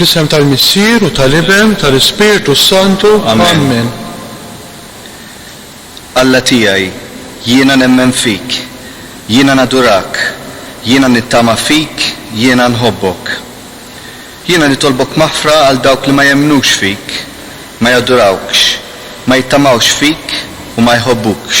Fl-isem tal-Missier u tal-Iben tal-Ispirtu s-Santu. Amen. Alla tiegħi, jiena nemmen fik, jiena nadurak, jiena nittama fik, jiena nħobbok. Jiena nitolbok maħfra għal dawk li ma jemmnux fik, ma jadurawkx, ma jittamawx fik u ma jħobbukx.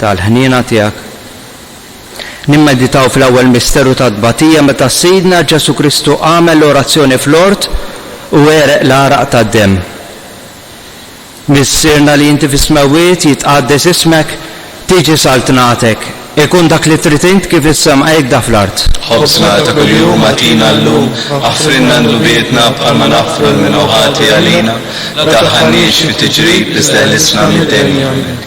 tal-ħniena tiegħek. Nimmeditaw fl-ewwel misteru tat-tbatija meta Sidna Ġesù Kristu għamel l-orazzjoni fl-ort u għereq l-għaraq tad-demm. Missierna li inti fis-smewwiet, jitqaddes ismek, tiġi saltnatek, ikun dak li trid int kif fis-sema hekda fl-art. Ħobżna ta' kuljum agħtina llum, aħfrilna ndnubietna bħalma naħfru lil min hu ħati għalina, ma tadħalniex fi tiġrib iżda ħlisna mid-dejn jagħmel.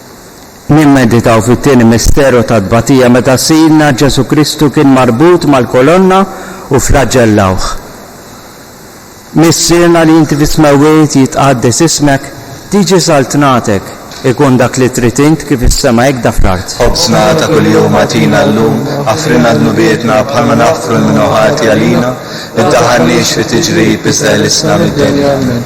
Nimmeditaw fit-tieni misteru tat-tbatija meta Sidna Ġesù Kristu kien marbut mal-kolonna u flaġellawh. Missierna li inti fis-smewwiet jitqaddes ismek, tiġi saltnatek, ikun dak li trid int kif is-sema hekk da fl-art. Ħobżna ta' kuljum agħtina llum, aħfrilna dnubietna bħalma naħfru l-minu ħati għalina, iddaħħalniex fi tiġrib iżda ħlisna mid-dinja. Amen.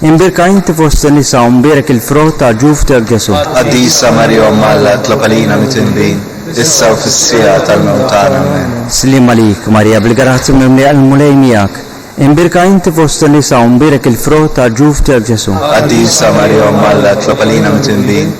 Imbierka inti fost in-nisa u mbierek il-frott ta' ġuftek Ġesù. Qaddisa Marija Omm Alla itlob għalina mit-inbin, issa u fis-siegħa tal-mewt tagħna. Amen. Sliem għalik, Marija, bil-grazzja mimlija il-Mulej miegħek. Imbierka inti fost in-nisa u mbierek il-frott ta' ġuftek Ġesù. Qaddisa Marija Omm Alla itlob għalina mit-inbin,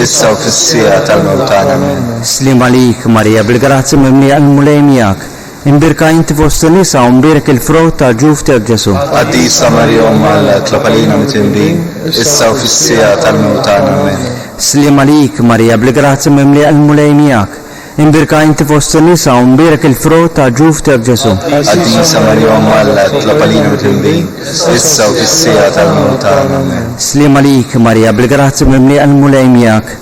issa u fis-siegħa tal-mewt tagħna. Amen. Sliem għalik, Marija, bil-grazzja mimlija il-Mulej miegħek. Imbierka inti fost in-nisa u mbierek il-frott ta' ġuf tiegħek Ġesù. Qaddisa Marija Omm Alla, itlob għalina mit'imbin, issa u fis-siegħa tal-mewt tagħna. Amen. Sliem għalik, Marija, bil-grazzja mimlija il-Mulej miegħek. Imbierka inti fost in-nisa u mbierek il-frott ta' ġuf tiegħek Ġesù. Qaddisa Marija Omm Alla, itlob għalina mit'imbin, issa u fis-siegħa tal-mewt tagħna. Amen. Sliem għalik, Marija, bil-grazzja mimlija il-Mulej miegħek.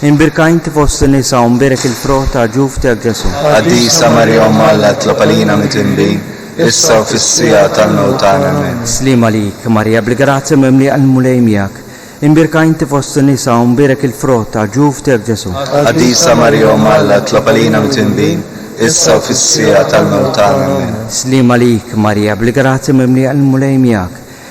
Imbierka inti fost in-nisa u mbierek il-frott ta' ġuf tiegħek Ġesù. Qaddisa Marija Omm Alla tlob għalina mitwinbin, issa u fis-siegħa tal-mewt tagħna. Amen. Sliem għalik, Marija bil-grazzja mimlija l-Mulej miegħek. Imbierka inti fost in-nisa u mbierek il-frott ta' ġuf tiegħek Ġesù. Qaddisa Marija Omm Alla tlob għalina mitwinbin, issa u fis-siegħa tal-mewt tagħna. Amen. Sliem għalik, Marija bil-grazzja mimlija l-Mulej miegħek.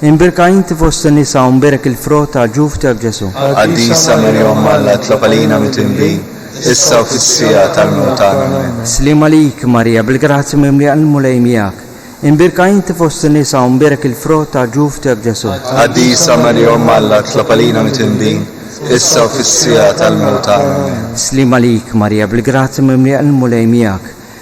Imbirka inti fost in-nisa u mbirik il-frott ta' ġufti għal Ġesu'. Qaddisa Marija Omm Alla itlob għalina mitindbin, issa u fis-siegħa tal-mewt tagħna. Ammen. Sliem għalik, Marija, bil-grazzja mimlija l-Mulej miegħek. Imbirka inti fost in-nisa u mbirik il-frott ta' ġufti għal Ġesu'. Qaddisa Marija Omm Alla itlob għalina mitindbin, issa u fis-siegħa tal-mewt tagħna. Ammen. Sliem għalik, Marija, bil-grazzja mimlija l-Mulej miegħek.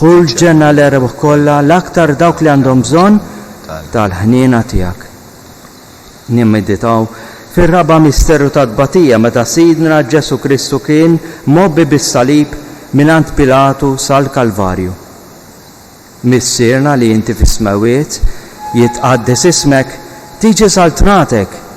Hu l-ġenna l-erbħ kollha l-aktar dawk li għandhom bżonn tal-ħniena tiegħek. Nimmeditaw fir-raba' misteru tat-tbatija meta Sidna Ġesù Kristu kien mgħobbi bis-salib mingħand Pilatu sal-Kalvarju. Missierna li inti fis-smewwiet, jitqaddes ismek, tiġi saltnatek,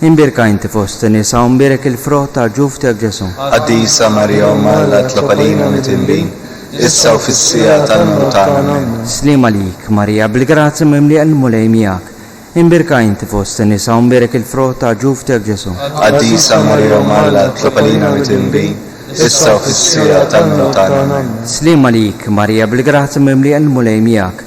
Imbierka inti fost in-nisa u mbierek il-frott ta' ġuf tiegħek Ġesù. Qaddisa Marija Omm Alla tlob għalina midinbin, issa u fis-siegħa tal-mewt tagħna. Amen. Sliem għalik, Marija, bil-grazzja mimlija l-Mulej miegħek. Imbierka inti fost in-nisa u mbierek il-frott ta' ġuf tiegħek Ġesù. Qaddisa Marija Omm Alla tlob għalina midinbin, issa u fis-siegħa tal-mewt tagħna. Amen. Sliem għalik, Marija, bil-grazzja mimlija l-Mulej miegħek.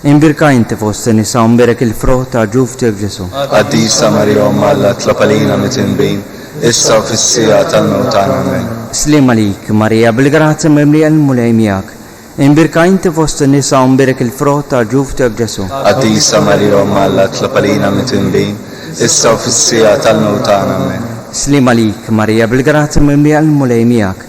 Imbierka inti fost in-nisa u mbierek il-frott ta' ġuf tiegħek Ġesù. Qaddisa Marija Omm Alla tlob għalina mitnbin, issa u fis-siegħa tal-mewt tagħna. Amen. Sliem għalik, Marija, bil-grazzja mimlija l-Mulej miegħek. Imbierka inti fost in-nisa u mbierek il-frott ta' ġuf tiegħek Ġesù. Qaddisa Marija Omm Alla tlob għalina mitnbin, issa u fis-siegħa tal-mewt tagħna. Amen. Sliem għalik, Marija, bil-grazzja mimlija l-Mulej miegħek.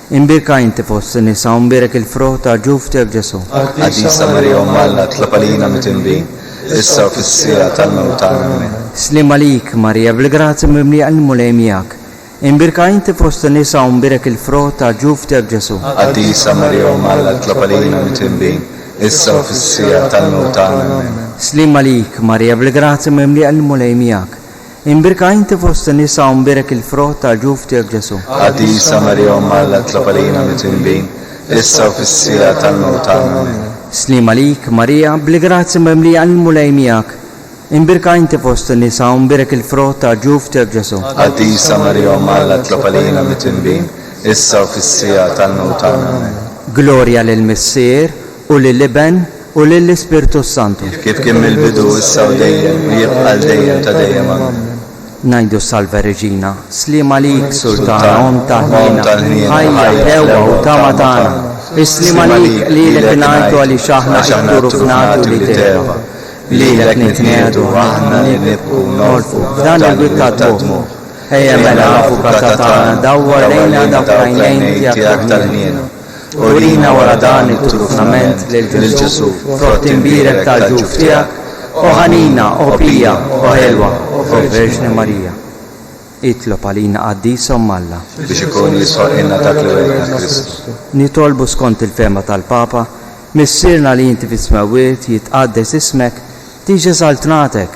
Imbierka inti fost in-nisa u mbierek il-frott ta' ġuf tiegħek Ġesù. Qaddisa Marija Omm Alla itlob għalina mitindbin, issa u fis-siegħa tal-mewt tagħna. Ammen. Sliem għalik, Marija bil-grazzja mimlija il-Mulej miegħek. Imbierka inti fost in-nisa u mbierek il-frott ta' ġuf tiegħek Ġesù. Qaddisa Marija Omm Alla itlob għalina mitindbin, issa u fis-siegħa tal-mewt tagħna. Ammen. Sliem għalik, Marija bil-grazzja mimlija il-Mulej miegħek. Imbirka inti fost in-nisa u mbierek il-frott tal-ġuf tiegħek Ġesù. Qaddisa Marija Omm Alla itlob għalina mitwinbin, issa u fis-siegħa tal-mewt tagħna. Amen. Sliem għalik, Marija, bil-grazzja mimlija il-Mulej miegħek. Imbirka inti fost in-nisa u mbierek il-frott tal-ġuf tiegħek Ġesù. Qaddisa Marija Omm Alla itlob għalina mitwinbin, issa u fis-siegħa tal-mewt tagħna. Amen. Glorja lill-Missier. U lill-Iben, u lill-Ispirtu s-Santu. Kif kien mill-bidu, issa u dejjem, u jibqa' għal dejjem ta' dejjem. Amen. Ngħidu Salve Regina, Sliema għalik, Sultana, Omm ta' ħniena, ħajja, ħlewwa, u tama tagħna. Is-sliema għalik, lilek ingħajtu għaliex aħna itturu fnati u li tgħeba. Lilek nitniegħdu aħna li nibku u nolqfu f'dan il-wied tad-dmugħ. Ejja mela, Avukat tagħna, dawwar lejna dawk l-għajnejn tiegħek ta' ħniena. Urina wara dan it-trufnament lil Ġesù, frott imbierek tal-ġuf tiegħek, o ħanina, o pija, o ħelwa, o Verġni Marija. Itlob għalina Qaddisa Omm Alla. Biex ikun jisħoqilna dak li wegħidna Kristu. Nitolbu skont il-fehma tal-Papa, Missierna li inti fis-Smewwiet, jitqaddes ismek, tiġi eżaltnatek,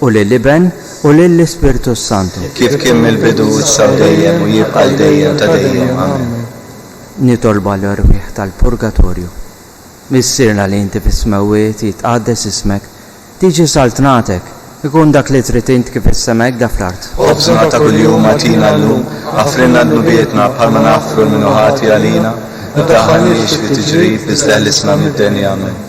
u lill-Iben, u lill-Ispirtu s-Santu. Kif kien mill-bidu, issa u dejjem, u jibqa' għal dejjem ta' dejjem. Amen. Nitolba l-erwieħ tal-purgatorju. Missierna li inti fis-smewwiet, jitqaddes ismek, tiġi saltnatek, ikun dak li trid int kif fis-sema hekk da fl-art. Ħobżna ta' kuljum agħtina llum, aħfrilna dnubietna bħalma naħfru lil min hu ħati għalina, u ddaħħalniex fi tiġrib, iżda ħlisna mid-deni. Amen.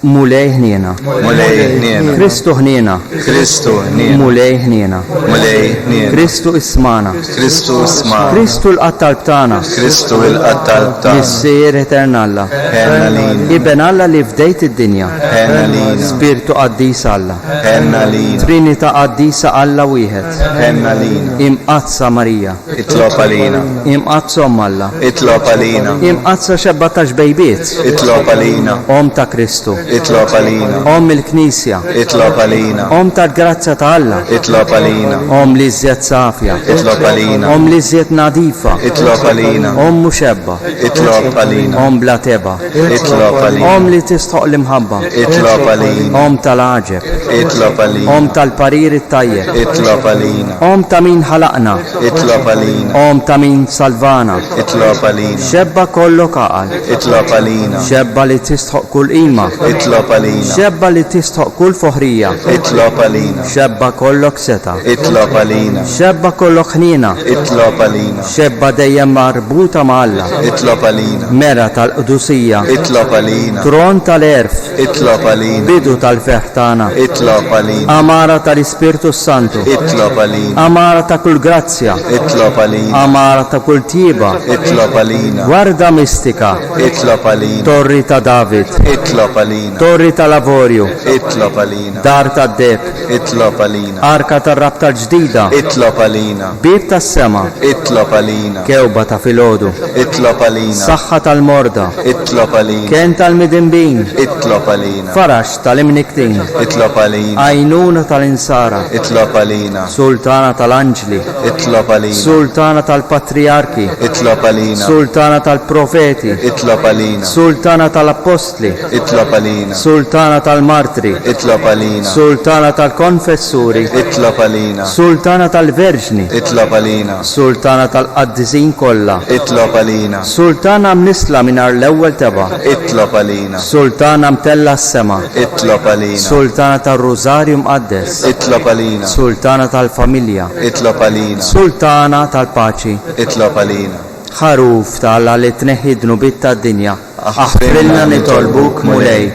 Mulej ħniena. Mulej ħniena. Kristu ħniena. Kristu ħniena. Mulej ħniena. Mulej ħniena. Kristu ismana. Kristu ismana. Kristu l-qattal btana. Kristu l-qattal btana. Missier etern Alla. Ħenna lin. Iben Alla li fdejt id-dinja. Ħenna lin. Spirtu qaddis Alla. Ħenna lin. Trinita qaddisa Alla wieħed. Ħenna lin. Imqazza Marija. Itlob għalina. Imqaddsa Omm Alla. Itlob għalina. Imqaddsa Xebba ta' Xbejbiet. Itlob għalina. Omm ta' Kristu. Itlob għalina. Omm il-Knisja. Itlob għalina. Omm tal-grazzja ta' Alla. Itlob għalina. Omm l-iżjed safja. Itlob għalina. Omm l-iżjed nadifa. Itlob għalina. Omm muxebba. Itlob għalina. Omm bla tebgħa. Itlob għalina. Omm li tistħoq l-imħabba. Itlob għalina. Omm tal-għaġeb. Itlob għalina. Omm tal-parir it-tajjeb. Itlob għalina. Omm ta' min ħalaqna. Itlob għalina. Omm ta' min salvana. Itlob għalina. Xebba kollok għaqal. Itlob għalina. Xebba li tistħoq kull qima. Itlob għalina. Xebba li tistħoq kull foħrija. Itlob għalina. Xebba kollok setgħa. Itlob għalina. Xebba kollok ħniena. Itlob għalina. Xebba dejjem marbuta ma' Alla. Itlob għalina. Mera tal-qdusija. Itlob għalina. Tron tal-għerf. Itlob għalina. Bidu tal-ferħ tagħna. Itlob għalina. Għamara tal-Ispirtu s-Santu. Itlob għalina. Għamara ta' kull grazzja. Itlob għalina. Għamara ta' kull tjieba. Itlob għalina. Warda mistika. Itlob għalina. Torri ta' David. Itlob għalina. Torri tal-Avorju. Itlob għalina. Dar tad-deheb, itlob għalina. Arka tar-rabta l-ġdida, itlob għalina. Bieb tas-sema, itlob għalina. Kewba ta' filgħodu, itlob għalina. Saħħa tal-morda, itlob għalina. Kenn tal-midinbin, itlob għalina. Faraġ tal-imnikktin, itlob għalina. Għajnuna tal-insara, itlob għalina. Sultana tal-anġli, itlob għalina. Sultana tal-patrijarki, itlob għalina. Sultana tal-profeti, itlob għalina. Sultana tal-appostli, Itlob għalina. Sultana tal-Martri. Itlob għalina. Sultana tal-Konfessuri. Itlob għalina. Sultana tal-Verġni. Itlob għalina. Sultana tal-Qaddisin kollha. Itlob għalina. Sultana mnissla mingħajr l-ewwel tebgħa. Itlob għalina. Sultana mtellgħa s-sema. Itlob għalina. Sultana tar-Rużarju Mqaddes. Itlob għalina. Sultana tal-Familja. Itlob għalina. Sultana tal-Paċi. Itlob għalina. Ħaruf ta' Alla li tneħħi d-dnubiet tad-dinja. Aħfrilna nitolbuk, Mulej.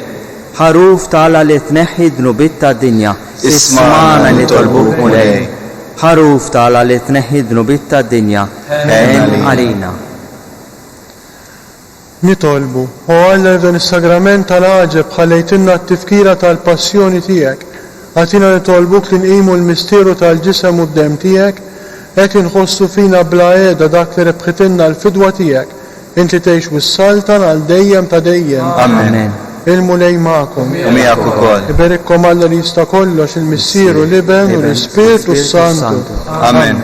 Ħaruf t'Alla li tneħħi d-dnubiet tad-dinja, ismagħna nitolbuk, Mulej. Ħaruf t'Alla li tneħħi d-dnubiet tad-dinja, għen għalina. Nitolbu, O Alla li f'dan is-Sagrament tal-għaġeb ħallejtilna t-tifkira tal-Passjoni tiegħek, Agħtina nitolbuk li nqimu l-misteru tal-ġisem u d-demm tiegħek, hekk inħossu fina bla qiegħda dak li rebħitilna l-fidwa tiegħek. Int li tgħix wissal tagħna għal dejjem ta' dejjem. Amen. Il-Mulej magħkom. U miegħek ukoll. Iberikkom Alla li jista' kollox, il-Missier u l-Iben u l-Ispirtu s-Santu. Amen.